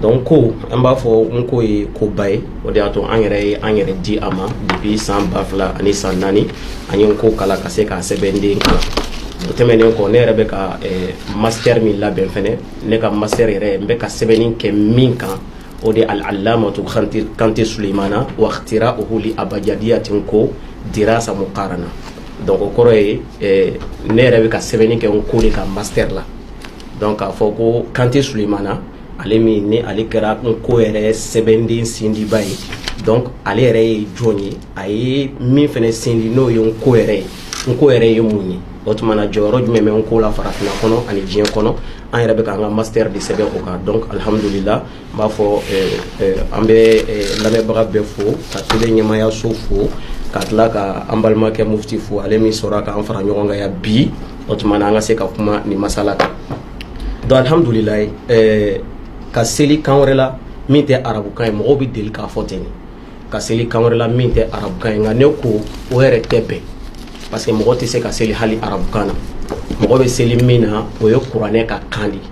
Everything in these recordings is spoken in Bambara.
donc ko an b'a fɔ n ko ye koba ye o de y'a to an yɛrɛ ye an yɛrɛ di a ma depuis san ba fila ani san naani an ye n ko kalan ka se k'a sɛbɛnden kalan o tɛmɛnen kɔ ne yɛrɛ bɛ ka eh, master min labɛn fɛnɛ ne ka master yɛrɛ n bɛ ka sɛbɛnni kɛ min kan o de al-allamatu kante suleimana wakhtira'uhu li abjadiyati n ko dirasa muqarana donc o kɔrɔ ye eh, ne yɛrɛ bɛ ka sɛbɛnni kɛ n ko de ka master la donc k'a fɔ ko kante sulemana ale min ni ale kɛra n ko yɛrɛ sɛbɛnden sindiba ye donc ale yɛrɛ ye jɔn ye a ye min fana sindi n'o ye n ko yɛrɛ ye n ko yɛrɛ ye mun ye o tuma na jɔyɔrɔ jumɛn bɛ n ko la farafin kɔnɔ ani diɲɛ kɔnɔ an yɛrɛ bɛ k'an ka master de sɛbɛn o kan donc alihamdulila n b'a fɔ an bɛ lamɛnbaga bɛɛ fo ka tele ɲɛmaayaso fo ka tila ka an balimakɛ mufti fo ale min sera k'an fara ɲɔgɔn kan yan bi o tuma na an ka se ka kuma nin masala kan donc alhamdulilayi ka seli kan wɛrɛ la min tɛ arabukan ye mɔgɔw bɛ deli k'a fɔ ten ka seli kan wɛrɛ la min tɛ arabukan ye nka ne ko o yɛrɛ tɛ bɛn parce que mɔgɔ tɛ se ka seli hali arabukan na mɔgɔ bɛ seli min na o ye kuranɛ ka kan de ye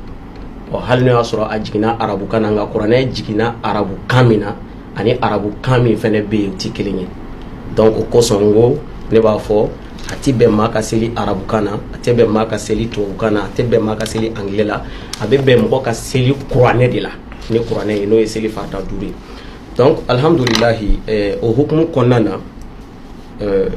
ɔ hali n'o y'a sɔrɔ a jiginna arabukan na nka kuranɛ jiginna arabukan min na ani arabukan min fana bɛ yen o tɛ kelen ye donc o kosɔn n ko ne b'a fɔ a tɛ bɛn maa ka seli arabukan na a tɛ bɛn maa ka seli tubabukan na a tɛ bɛn maa ka seli angilɛ la a bɛ bɛn mɔgɔ ka seli kuranɛ de la ni kuranɛ ye n'o ye seli farida duuru ye donc alihamudulilahi eh, o hukumu kɔnɔna na euh,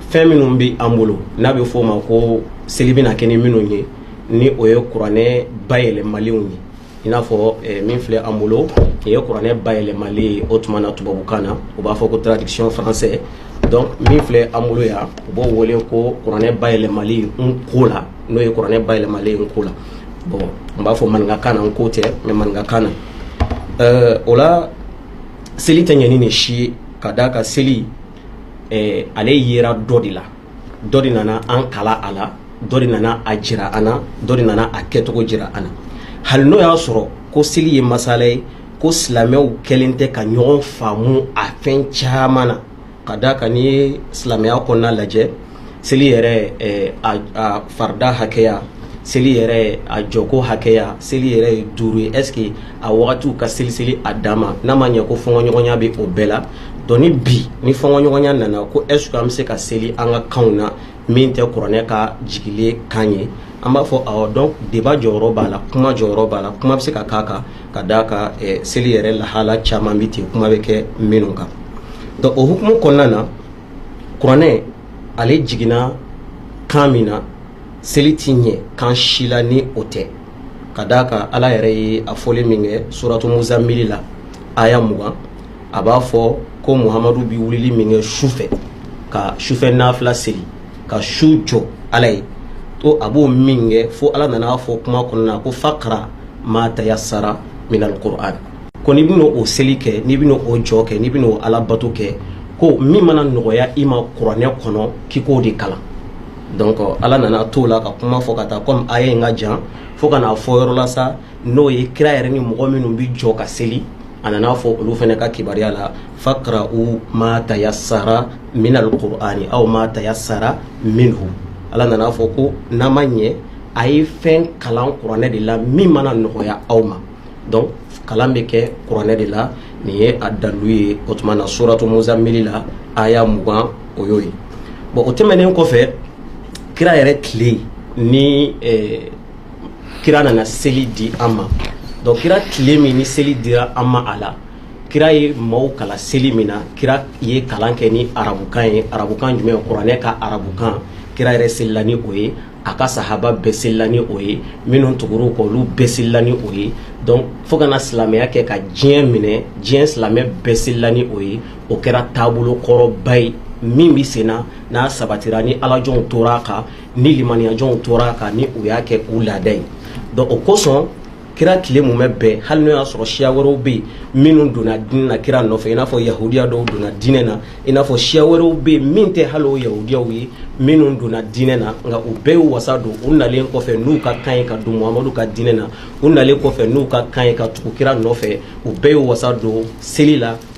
fɛn minnu bɛ an bolo n'a bɛ f'o ma ko seli bɛna kɛ ni minnu ye ni o ye kuranɛ bayɛlɛmalenw ye i n'a fɔ eh, min filɛ an bolo nin ye kuranɛ bayɛlɛmalen ye o tuma na tubabukan na u b'a fɔ ko traduction français donc min filɛ an bolo yan u b'o wele ko kuranɛ bayɛlɛmali n ko la n'o ye kuranɛ bayɛlɛmalen n ko la bon n b'a fɔ maninkakan na n ko tɛ mais maninkakan na eh, o la seli tɛ ɲɛ ni nin si ye ka d'a kan seli eh, ale yera dɔ de la dɔ de nana an kalan a la dɔ de nana a jira an na dɔ de nana a kɛcogo jira an na hali n'o y'a sɔrɔ ko seli ye masala ye ko silamɛw kɛlen tɛ ka ɲɔgɔn faamu a fɛn caman na ka d'a kan n'i ye silamɛya kɔnɔna lajɛ seli yɛrɛ a farida hakɛya seli yɛrɛ a jɔko hakɛya seli yɛrɛ ye duuru ye est ce que a wagatiw ka seliseli a dan ma n'a ma ɲɛ ko fɔnkɔɲɔgɔnya bɛ o bɛɛ la donc ni bi ni fɔnkɔɲɔgɔnya nana ko est ce que an bɛ se ka seli an ka kanw na min tɛ kuranɛ ka jigilen kan ye an b'a fɔ awɔ donc débat jɔyɔrɔ b'a la kuma jɔyɔrɔ b'a la kuma bɛ se ka k'a kan ka d'a kan eh, seli yɛrɛ lahala caman bɛ ten kuma bɛ kɛ minnu kan donc o hukumu kɔnɔna na kuranɛ ale jiginna kan min na seli tɛ ɲɛ kan si la ni o tɛ ka d'a kan ala yɛrɛ ye a fɔli min kɛ suratu muzamili la aya mugan a b'a fɔ ko muhamadu bɛ wulili min kɛ su fɛ ka sufɛ nafila seli ka su jɔ ala ye ko a b'o min kɛ fo ala nan'a fɔ kuma kɔnɔna ko faqra'u ma tayassara minal qur'an ko n'i bɛna o seli kɛ n'i bɛna o jɔ kɛ n'i bɛna o ala bato kɛ ko min mana nɔgɔya i ma kuranɛ kɔnɔ k'i k'o de kalan donc ala nana t'o la ka kuma fɔ ka taa comme aya in ka jan fo ka n'a fɔ yɔrɔ la sa n'o ye kira yɛrɛ ni mɔgɔ minnu bɛ jɔ ka seli a nan'a fɔ olu fana ka kibaruya la faqra'u ma tayassara minal qur'ani aw ma tayassara minhu ala nan'a fɔ ko n'a ma ɲɛ a ye fɛn kalan kuranɛ de la min mana nɔgɔya aw ma donc kalan bɛ kɛ kuranɛ de la nin ye a dalu ye o tuma na suratu muzamili la aya mugan o y'o ye bon o tɛmɛnen kɔfɛ kira yɛrɛ tile ni eh, kira nana seli di an ma donc kira tile min ni seli dira an ma a la kira ye maaw kalan seli min na kira ye kalan kɛ ni arabukan ye arabukan jumɛn kuranɛ ka arabukan kira yɛrɛ selila ni o ye a ka sahaba bɛɛ selila ni o ye minnu tugur'u kɔ olu bɛɛ selila ni o ye donc fo ka na silamɛya kɛ ka diɲɛ minɛ diɲɛ silamɛ bɛɛ selila ni o ye o kɛra taabolo kɔrɔba ye min bɛ sen na n'a sabatira ni alajɔnw tora a kan ni limaniyajɔnw tor'a kan ni u y'a kɛ u laada ye donc o kosɔn kira tile mumɛ bɛɛ hali n'o y'a sɔrɔ siya wɛrɛw bɛ yen minnu donna diinɛ na kira nɔfɛ i n'a fɔ yahudiya dɔw donna diinɛ na i n'a fɔ siya wɛrɛw bɛ yen min tɛ hali o yahudiyaw ye minnu donna diinɛ na nka u bɛɛ y'u wasa don u nalen kɔfɛ n'u ka kan ye ka don muhamadu ka diinɛ na u nalen kɔfɛ n'u ka kan ye ka tugu kira nɔfɛ u bɛɛ y'u wasa don seli la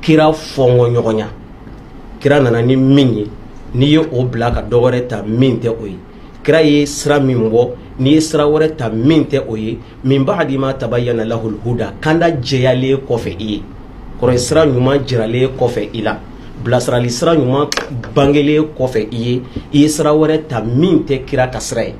kira fɔnkɔ ɲɔgɔnya kira nana ni min ye n'i ye o bila ka dɔ wɛrɛ ta min tɛ o ye kira ye sira min bɔ n'i ye sira wɛrɛ ta min tɛ o ye min ba'di ma tabayyana lahul huda kanda jɛyalen kɔfɛ i ye kɔrɔ sira ɲuman jiralen kɔfɛ i la bilasirali sira ɲuman bangelen kɔfɛ i ye i ye sira wɛrɛ ta min tɛ kira ka sira ye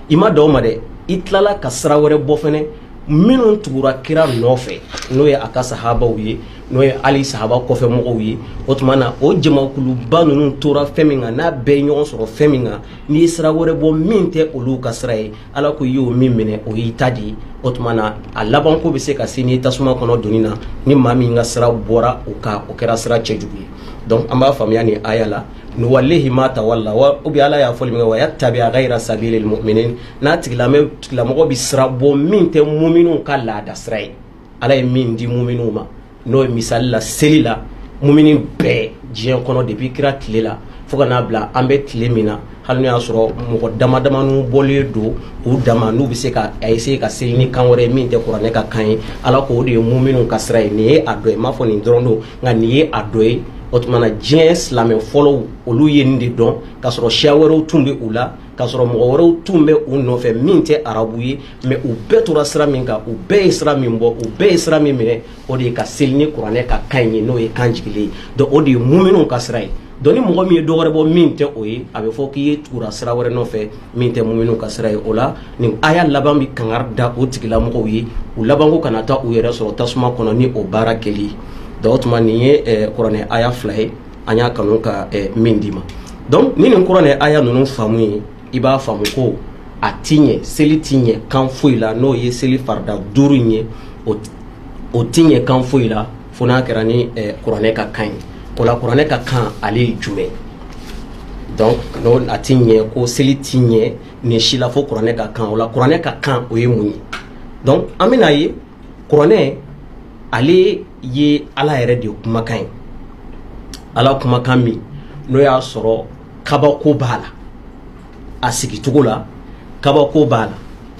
i ma dan o ma dɛ i tilala ka sira wɛrɛ bɔ fɛnɛ minnu tugura kira nɔfɛ n'o ye a ka sahabaw ye n'o ye hali sahaba kɔfɛ mɔgɔw ye o tuma na o jamakuluba ninnu tora fɛn min kan n'a bɛɛ ɲɔgɔn sɔrɔ fɛn min kan n'i ye sira wɛrɛ bɔ min tɛ olu ka sira ye ala ko i y'o min minɛ o y'i ta de ye o tuma na a labanko bɛ se ka se n'i tasuma kɔnɔ donni na ni maa min ka sira bɔra o kan o kɛra sira cɛjugu ye donc an b'a faamuya nin aya la nuwallihi ma tawalla wa ou bien ala y'a fɔli min kɛ wa yattabi ghaira sabilil mu'minin n'a tigilamɔgɔ bɛ sira bɔ min tɛ muminw ka laada sira ye ala ye min di muminw ma n'o ye misali la seli la mumini bɛɛ diɲɛ kɔnɔ depuis kira tile la fo ka n'a bila an bɛ tile min na hali n'o y'a sɔrɔ mɔgɔ damadamanin bɔlen don u dama n'u bɛ se ka a essayer ka seli ni kan wɛrɛ ye min tɛ kuranɛ ka kan ye ala k'o de ye muminw ka sira ye nin ye a dɔ ye n m'a fɔ nin dɔrɔn don nka nin ye a dɔ ye o tuma na diɲɛ silamɛ fɔlɔw olu ye nin de dɔn k'a sɔrɔ siya wɛrɛw tun bɛ u la k'a sɔrɔ mɔgɔ wɛrɛw tun bɛ u nɔfɛ min tɛ arabu ye mais u bɛɛ tora sira min kan u bɛɛ ye sira min bɔ u bɛɛ ye sira min minɛ o de ye ka seli ni kuranɛ ka kan ye n'o ye kan jigilen ye donc o de ye muminw ka sira ye donc ni mɔgɔ min ye dɔ wɛrɛ bɔ min tɛ o ye a bɛ fɔ k'i ye tugura sira wɛrɛ nɔfɛ min tɛ muminw ka sira ye o la nin aya laban bɛ kangari da o tigilamɔgɔw ye u labanko kana taa u yɛrɛ sɔrɔ tasuma kɔnɔ ni o baara kɛli ye o tuma nin ye kuranɛ aya fila ye an y'a kanu ka eh, min d'i ma donc ni nin kuranɛ aya ninnu faamu ye i b'a faamu ko a ti ɲɛ seli ti ɲɛ kan foyi la n'o ye seli farida duuru in ye o ti ɲɛ kan foyi la fo n'a kɛra ni eh, kuranɛ ka kan ye o la kuranɛ ka kan ale ye jumɛn donc n'o a ti ɲɛ ko seli ti ɲɛ nin si la fo kuranɛ ka kan o la kuranɛ ka kan o ye mun ye donc an bɛna ye kuranɛ ale ye ala yɛrɛ de kumakan ye ala kumakan min n'o y'a sɔrɔ kabako b'a la a sigicogo la kabako b'a la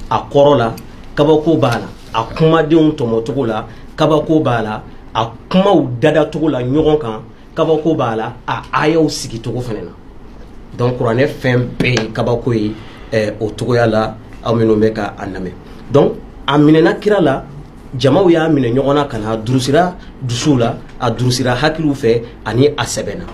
a kɔrɔ la kabako b'a la a kumadenw tɔmɔcogo la kabako b'a la a kumaw dadacogo la ɲɔgɔn kan kabako b'a la a ayaw sigicogo fana na donc kuranɛ fɛn bɛɛ ye kabako ye eh, o cogoya la aw minnu bɛ ka a lamɛn donc a minɛna kira la jamaw y'a minɛ ɲɔgɔn na ka na a durusira dusuw la a durusira hakiliw fɛ ani a sɛbɛnna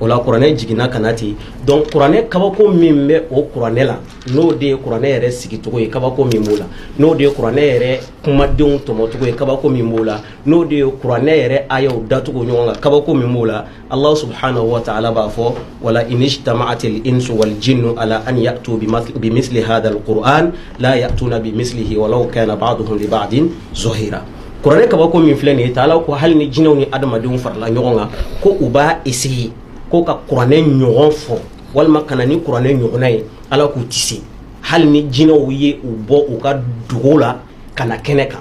o la kuranɛ jiginna ka na ten donc kuranɛ kabako min bɛ o kuranɛ la n'o de ye kuranɛ yɛrɛ sigicogo ye kabako min b'o la n'o de ye kuranɛ yɛrɛ kumadenw tɔmɔcogo ye kabako min b'o la n'o de ye kuranɛ yɛrɛ ayaw dacogo ɲɔgɔn kan kabako min b'o la alahu subhanahu wa taala b'a fɔ wala inijtama'atil insu wal jinnu ala an ya'tu bimisli hadha alquran la ya'tuna bimislihi walaw kana ba'duhum li ba'din zahira kuranɛ kabako min filɛ nin ye ala ko hali ni jinɛw ni adamadenw farala ɲɔgɔn kan ko u b'a essayer ko ka kuranɛ ɲɔgɔn fɔ walima ka na ni kuranɛ ɲɔgɔnna ye ala k'u ti se hali ni jinɛw ye u bɔ u ka dugu la ka na kɛnɛ kan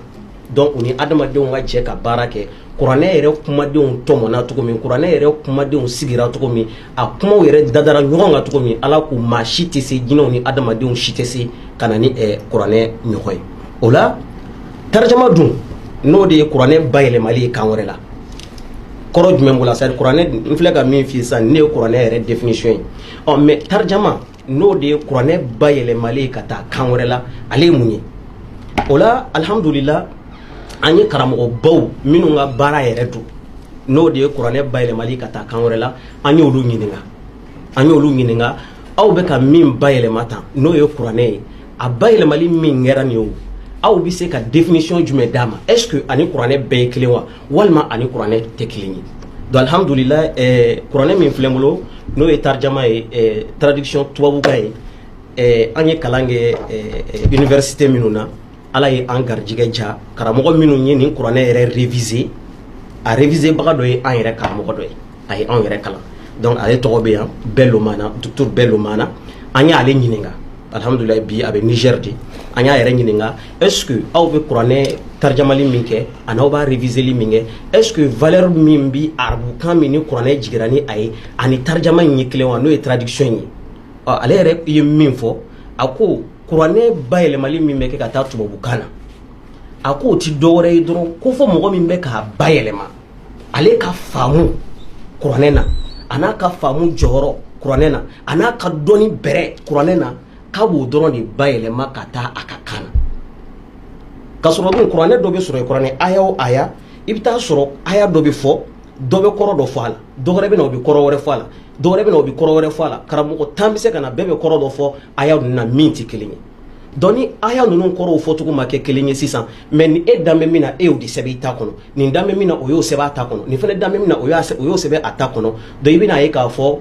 donc u ni adamadenw ka jɛ ka baara kɛ kuranɛ yɛrɛ kumadenw tɔmɔna cogo min kuranɛ yɛrɛ kumadenw sigira cogo min a kumaw yɛrɛ dadara ɲɔgɔn kan cogo min ala ko maa si tɛ se jinɛw ni adamadenw si tɛ se ka na ni eh, kuranɛ ɲɔgɔn ye o la tarjama dun n'o de ye kuranɛ bayɛlɛmali ye kan wɛrɛ la kɔrɔ jumɛn b'o la c'est à dire kuranɛ n filɛ ka min f'i ye sisan nin ye kuranɛ yɛrɛ définition ye ɔ mais tarjama n'o de ye kuranɛ bayɛlɛmali ye ka taa kan wɛrɛ la ale ye mun ye o la alihamudulila an ye karamɔgɔbaw minnu ka baara yɛrɛ don n'o de ye kuranɛ bayɛlɛmali ye ka taa kan wɛrɛ la an y'olu ɲininka an y'olu ɲininka aw bɛ ka min bayɛlɛma tan n'o ye kuranɛ ye a bayɛlɛmali min kɛra nin ye o aw bɛ se ka définition jumɛn d'a ma est ce que ani kuranɛ bɛɛ ye kelen wa walima ani kuranɛ tɛ kelen ye donc alhamdulila eh, kuranɛ min filɛ bolo n'o ye tarijama ye eh, traduction tubabukan ye eh, an ye kalan kɛ eh, eh, université minnu na ala ye an garijigɛ ja karamɔgɔ minnu ye nin kuranɛ yɛrɛ réviser a réviser baga dɔ ye an yɛrɛ karamɔgɔ dɔ ye a ye anw yɛrɛ kalan donc ale tɔgɔ bɛ yan bello mana docteur bello mana an y'ale ɲininka alhamdulillah bi a bɛ niger de an y'a yɛrɛ ɲininka est ce que aw bɛ kuranɛ tarijamali min kɛ ani aw b'a reviseli min kɛ est ce que valeur min bi arabukan min ni kuranɛ jigira ni a ye ani tarijama in ye kelen wa n'o ye traduction ye ɔ ale yɛrɛ ye min fɔ a ko kuranɛ bayɛlɛmali min bɛ kɛ ka taa tubabukan na a ko o ti dɔwɛrɛ ye dɔrɔn ko fo mɔgɔ min bɛ k'a bayɛlɛma ale ka faamu kuranɛ na a n'a ka faamu jɔyɔrɔ kuranɛ na a n'a ka dɔnni bɛrɛ kuranɛ na k'a b'o dɔrɔn de bayɛlɛma ka taa a ka kan na ka sɔrɔ dun kuranɛ dɔ bɛ sɔrɔ kuranɛ aya o aya i bɛ taa sɔrɔ aya dɔ bɛ fɔ dɔ bɛ kɔrɔ dɔ fɔ a la dɔ wɛrɛ bɛ na o bɛ kɔrɔ wɛrɛ fɔ a la dɔ wɛrɛ bɛ na o bɛ kɔrɔ wɛrɛ fɔ a la karamɔgɔ tan bɛ se ka na bɛɛ bɛ kɔrɔ dɔ fɔ aya nin na min tɛ kelen ye donc ni aya ninnu kɔrɔw fɔcogo ma kɛ kelen ye sisan mɛ ni e dan bɛ min na e y'o de sɛbɛn i ta kɔnɔ nin dan bɛ min na o y'o sɛbɛn a ta kɔnɔ nin fana dan bɛ min na o y'o sɛbɛn a ta kɔnɔ donc i bɛn'a ye k'a fɔ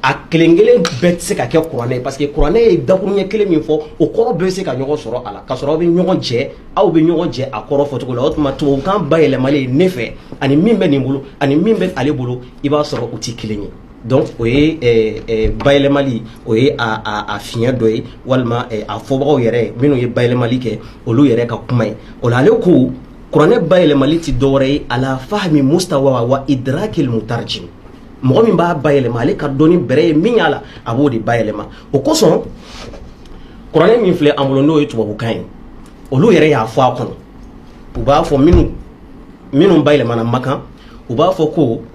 a kelen kelen bɛɛ tɛ se ka kɛ kuranɛ ye parce que kuranɛ ye dakuruɲɛ kelen min fɔ o kɔrɔ bɛɛ bɛ se ka ɲɔgɔn sɔrɔ a la ka sɔrɔ aw bɛ ɲɔgɔn jɛ aw bɛ ɲɔgɔn jɛ a kɔrɔ fɔcogo la o tuma tubabukan bayɛlɛmalen ne fɛ ani min bɛ nin bolo ani min bɛ ale bolo i b'a sɔrɔ u tɛ kelen ye donc o ye eh, eh, bayɛlɛmali o ye a fiɲɛ dɔ ye walima eh, a fɔbagaw yɛrɛ minnu ye bayɛlɛmali kɛ olu yɛrɛ ka kuma ye o la ale ko kuranɛ bayɛlɛmali ti dɔwɛrɛ ye ala fahmi mustawa wa idrakil mutarjim mɔgɔ min b'a bayɛlɛma ale ka dɔnni bɛrɛ ye min y'a la a b'o de bayɛlɛma o kosɔn kuranɛ min filɛ an bolo n'o ye tubabukan ye olu yɛrɛ y'a fɔ a kɔnɔ u b'a fɔ minnu minnu bayɛlɛmana makan u b'a fɔ ko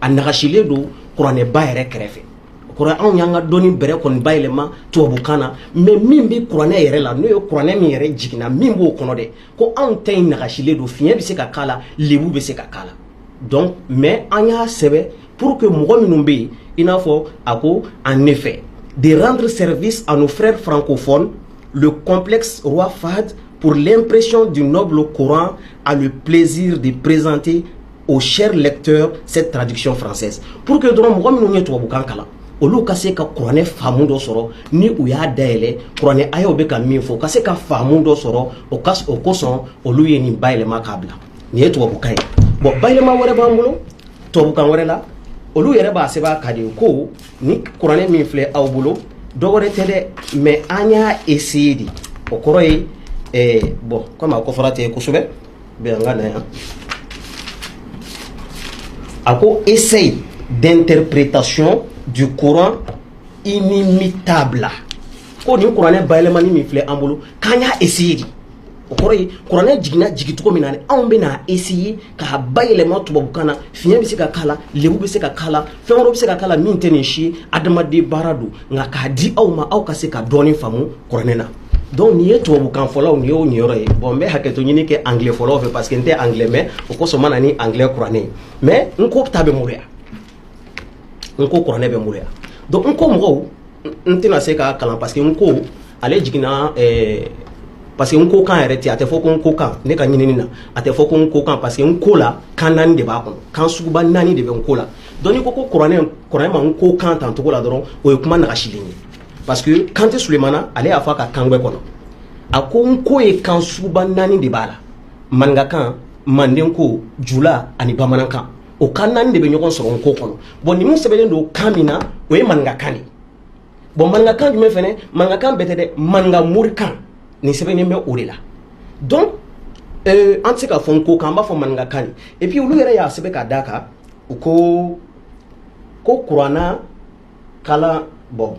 a nagasilen don kuranɛba yɛrɛ kɛrɛfɛ ko anw y'an ka dɔnni bɛrɛ kɔni bayɛlɛma tubabukan na mais min bɛ kuranɛ yɛrɛ la n'o ye kuranɛ min yɛrɛ jiginna min b'o kɔnɔ dɛ ko anw ta in nagasilen don fiɲɛ bɛ se ka k'a la lebu bɛ se ka k'a la donc mais an y'a sɛbɛn pour que mɔgɔ minnu bɛ yen i n'a fɔ a ko en effet de rendre service à nos frères francophones le complexe roi Fahd pour l'impression du noble Coran a le plaisir de présenter Au cher lecteur cette traduction française pour que dɔrɔn mɔgɔ minnu ye tubabukan kalan olu ka se ka kuranɛ faamu dɔ sɔrɔ ni u y'a dayɛlɛn kuranɛ a y'o bɛ ka min fɔ ka se ka faamu dɔ sɔrɔ o o kosɔn olu ye nin bayɛlɛma k'a bila nin ye tubabukan ye bon bayɛlɛma wɛrɛ b'an bolo tubabukan wɛrɛ la olu yɛrɛ b'a sɛbɛn a kan de ko nin kuranɛ min filɛ aw bolo dɔwɛrɛ tɛ dɛ mais an y'a essayer de o kɔrɔ ye bon comme a ko fɔra tɛ yen kosɛbɛ Bon an ka na yan. A ko essai d'interprétation du Coran inimitable ko nin kuranɛ bayɛlɛmani min filɛ an bolo k'an y'a essayer de o kɔrɔ ye kuranɛ jiginna jigin cogo min na anw bɛ n'a essayer k'a bayɛlɛma tubabukan na fiɲɛ bɛ se ka k'a la lebu bɛ se ka k'a la fɛn wɛrɛw bɛ se ka k'a la min tɛ nin si ye adamaden baara don nka k'a di aw ma aw ka se ka dɔɔnin faamu kuranɛ na Donc nin ye tubabukan fɔlaw nin y'u niyɔrɔ ye bon n bɛ hakɛto ɲini kɛ anglais fɔlaw fɛ parce que n tɛ anglais mɛn o kosɔn n ma na ni anglais kuranɛ ye mais nko ta bɛ n bolo yan nko kuranɛ bɛ n bolo yan donc nko mɔgɔw n tɛna se k'a kalan parce que nko ale jiginna eh, parce que nko kan yɛrɛ tɛ a tɛ fɔ ko nko kan ne ka ɲinini na a tɛ fɔ ko nko kan parce que nko la kan naani de b'a kɔnɔ kan suguba naani de bɛ nko la donc n'i ko nko kuranɛ kuranɛ ma nko kan tan cogo la dɔrɔn o ye kuma nagasilen ye parce que kante sulemana ale y'a fɔ a ka kangbɛ kɔnɔ a ko nko ye kan suguba naani de b'a la maninkakan mandenko jula ani bamanankan o kan naani de bɛ ɲɔgɔn sɔrɔ nko kɔnɔ bon ninnu sɛbɛnnen don kan min na o ye maninkakan de bon maninkakan jumɛn fɛnɛ maninkakan bɛɛ tɛ dɛ maninka morikan nin sɛbɛnnen bɛ o de la donc euh, an tɛ se k'a fɔ nko kan an b'a fɔ maninkakan de et puis olu yɛrɛ y'a sɛbɛn ka d'a kan u ko ko kurana kalan bon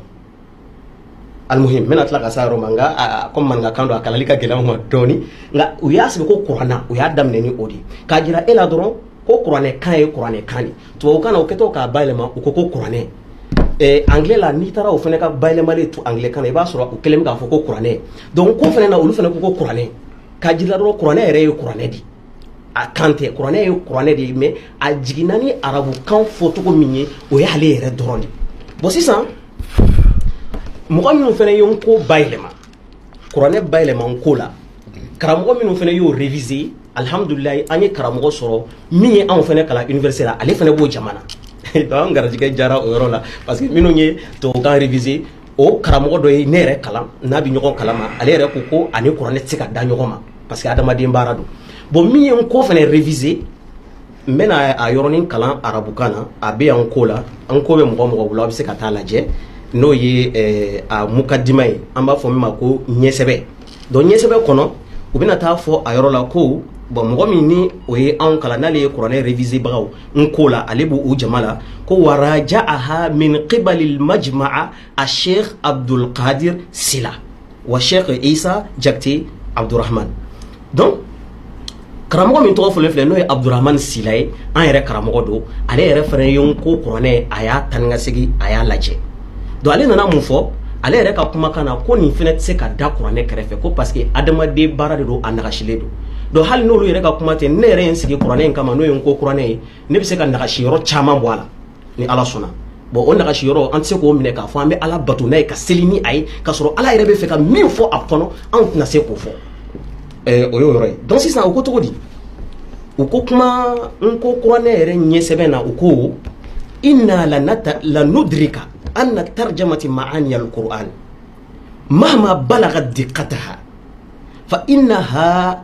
alimuhim n bɛna tila ka s'a yɔrɔ ma nka comme maninkakan don a kalanni ka gɛlɛn n ma dɔɔni nka u y'a sigi ko kurana u y'a daminɛ ni o de k'a jira e la dɔrɔn ko kuranɛ kan ye kuranɛ kan de tubabukan na u kɛtɔ k'a bayɛlɛma u ko ko kuranɛ eh, anglais la n'i taara o fana ka bayɛlɛmali to anglais kan na i b'a sɔrɔ u kɛlen bɛ k'a fɔ ko kuranɛ donc nko fana na olu fana ko ko kuranɛ k'a jira dɔrɔn kuranɛ yɛrɛ ye kuranɛ de ye a kan tɛ kuranɛ ye kuranɛ de ye mais a jiginna ni arabukan fɔcogo min ye o ye ale yɛrɛ dɔrɔn de bon sisan mɔgɔ minnu fana ye n ko bayɛlɛma kuranɛ bayɛlɛma n ko la karamɔgɔ minnu fana y'o réviser alhamdulilayi an ye karamɔgɔ sɔrɔ min ye anw fana kalan université la ale fana b'o jama na donc an garijɛgɛ jara o yɔrɔ la parce que minnu ye tubabukan réviser o karamɔgɔ dɔ ye ne yɛrɛ kalan n'a bɛ ɲɔgɔn kalama ale yɛrɛ ko k'o ani kuranɛ tɛ se ka da ɲɔgɔn ma parce que adamaden baara don bon min ye n ko fana réviser n bɛna a yɔrɔnin kalan arabukan na a bɛ yan n ko la n ko bɛ mɔgɔ o mɔgɔ bolo a bɛ se ka t'a lajɛ n'o ye a mukadima ye an b'a fɔ min ma ko ɲɛsɛbɛ donc ɲɛsɛbɛ kɔnɔ u bɛna t'a fɔ a yɔrɔ la ko bon mɔgɔ min ni o ye anw kalan n'ale ye kuranɛ revisebagaw n ko la ale b'o jama la ko wa rajaaha min qibali almajmaa asheikh abdulkadir sila wa sheikh isa jakite abdurahman donc karamɔgɔ min tɔgɔ fɔlen filɛ n'o ye abdurahmani sila ye an yɛrɛ karamɔgɔ don ale yɛrɛ fana ye n ko kuranɛ in a y'a tani ka segin a y'a lajɛ donc ale nana mun fɔ ale yɛrɛ ka kumakan na ko nin fana tɛ se ka da kuranɛ kɛrɛfɛ ko parce que adamaden baara de don a nagasilen don donc hali n'olu yɛrɛ ka kuma tɛ ne yɛrɛ ye n sigi kuranɛ in kama n'o ye n ko kuranɛ ye ne bɛ se ka nagasi yɔrɔ caman bɔ a la ni ala sɔnna bon o nagasi yɔrɔ an tɛ se k'o minɛ k'a fɔ an bɛ ala bato n'a ye ka seli ni a ye k'a sɔrɔ ala yɛrɛ bɛ fɛ ka min fɔ a kɔnɔ anw tɛna se k'o fɔ eh, o y'o yɔrɔ ye donc sisan u ko cogo di u ko kuma n ko kuranɛ yɛrɛ ɲɛsɛbɛn na u ko inna lanudrika anna tarjamati maani alquran mahma balaga diqataha fa innaha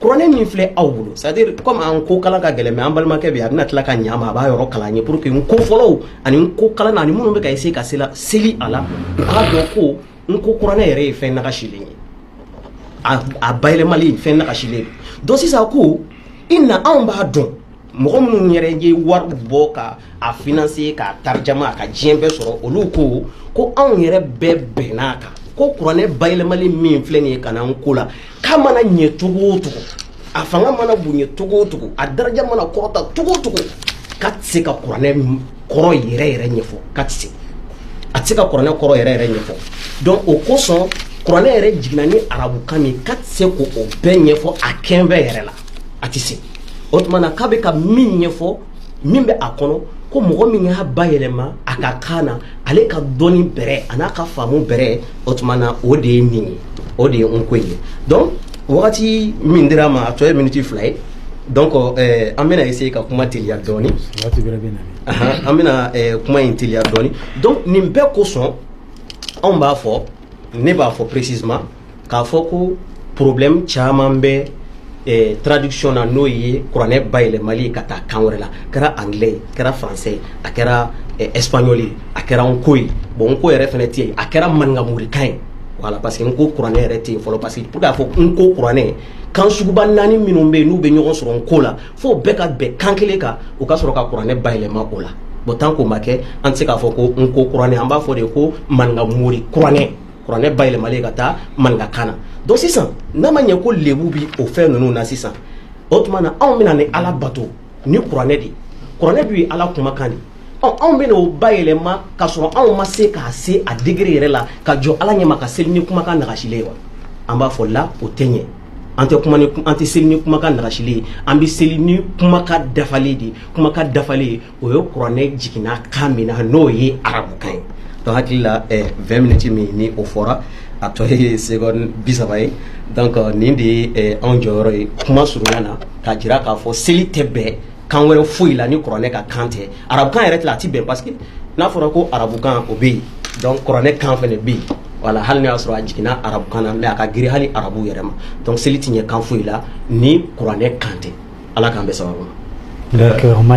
kuranɛ min filɛ aw bolo c'est à dire comme n ko kalan ka gɛlɛn mais an balimakɛ bɛ a bɛna tila ka ɲa ma a b'a yɔrɔ kalan an ye pour que n ko fɔlaw ani n ko kalannaw ani minnu bɛ ka essayer ka sela seli a la u k'a dɔn ko n ko kuranɛ yɛrɛ ye fɛn nagasilen ye a bayɛlɛmali fɛn nagasilen don donc sisan ko inna anw b'a dɔn mɔgɔ minnu yɛrɛ ye wari bɔ ka a finanse k'a tarijama a ka diɲɛ bɛɛ sɔrɔ olu ko ko anw yɛrɛ bɛɛ bɛnna a kan ko kuranɛ bayɛlɛmali min filɛ nin ye ka na n ko la k'a mana ɲɛ cogo o cogo a fanga mana bonya cogo o cogo a daraja mana kɔrɔta cogo o cogo k'a tɛ se ka kuranɛ kɔrɔ yɛrɛ yɛrɛ ɲɛfɔ k'a tɛ se a tɛ se ka kuranɛ kɔrɔ yɛrɛ yɛrɛ ɲɛfɔ donc o kosɔn kuranɛ yɛrɛ jiginna ni arabukan min ye k'a tɛ se k'o bɛɛ ɲɛfɔ a kɛnfɛ yɛrɛ la a tɛ se o tuma na k'a bɛ ka min ɲɛfɔ min bɛ a kɔnɔ ko mɔgɔ min y'a bayɛlɛma a ka kan na ale ka dɔnni bɛrɛ an'a ka faamu bɛrɛ o tuma na o de ye nin ye o de ye n ko in ye donc wagati min dira n ma a tɔ ye miniti fila ye donc eh, an bɛna essayer ka kuma teliya dɔɔni Ahan, an bɛna eh, kuma in teliya dɔɔni donc nin bɛɛ kosɔn anw b'a fɔ ne b'a fɔ précisément k'a fɔ ko problème caman bɛ eh, traduction na n'o ye kuranɛ bayɛlɛmali ye ka taa kan wɛrɛ la kɛra anglais ye kɛra français ye a kɛra eh, espagnol ye a kɛra nko ye bon nko yɛrɛ fɛnɛ tɛ yen a kɛra maninkamorikan ye voilà parce que nko kuranɛ yɛrɛ tɛ yen fɔlɔ parce que pour k'a fɔ nko kuranɛ kan suguba naani minnu bɛ yen n'u bɛ ɲɔgɔn sɔrɔ nko la fo bɛɛ ka bɛn kan kelen kan u ka sɔrɔ ka kuranɛ bayɛlɛma o la bon tant qu'o ma kɛ an tɛ se k'a fɔ ko nko kuranɛ an b'a fɔ de ko maninkamori kuranɛ kuranɛ bayɛlɛmalen ka taa maninkakan na donc sisan n'a ma ɲɛ ko lebu bi o fɛn ninnu na sisan o tuma na anw bɛna ni ala bato ni kuranɛ de kuranɛ de ye ala kumakan de ɔ anw bɛna o bayɛlɛma ka sɔrɔ anw ma se k'a se a degré yɛrɛ la ka jɔ ala ɲɛma ka seli ni kumakan nagasilen ye wa an b'a fɔ la o tɛ ɲɛ an tɛ kuma ni an tɛ seli ni kumakan nagasilen ye an bɛ seli ni kumakan dafalen de ye kumakan dafalen ye o ye kuranɛ jiginna kan min na n'o ye arabukan ye donc n hakili la 20 minutes min ni o fɔra a tɔ ye seconde bi saba ye donc nin de ye anw jɔyɔrɔ ye kuma surunya na k'a jira k'a fɔ seli tɛ bɛn kan wɛrɛ foyi la ni kuranɛ ka kan tɛ arabukan yɛrɛ tɛ a tɛ bɛn parce que n'a fɔra ko arabukan o bɛ yen donc kuranɛ kan fana bɛ yen voilà hali n'a y'a sɔrɔ a jiginna arabukan na mais a ka girin hali arabu yɛrɛ ma donc seli tɛ ɲɛ kan foyi la ni kuranɛ kan tɛ ala k'an bɛn sababu ma.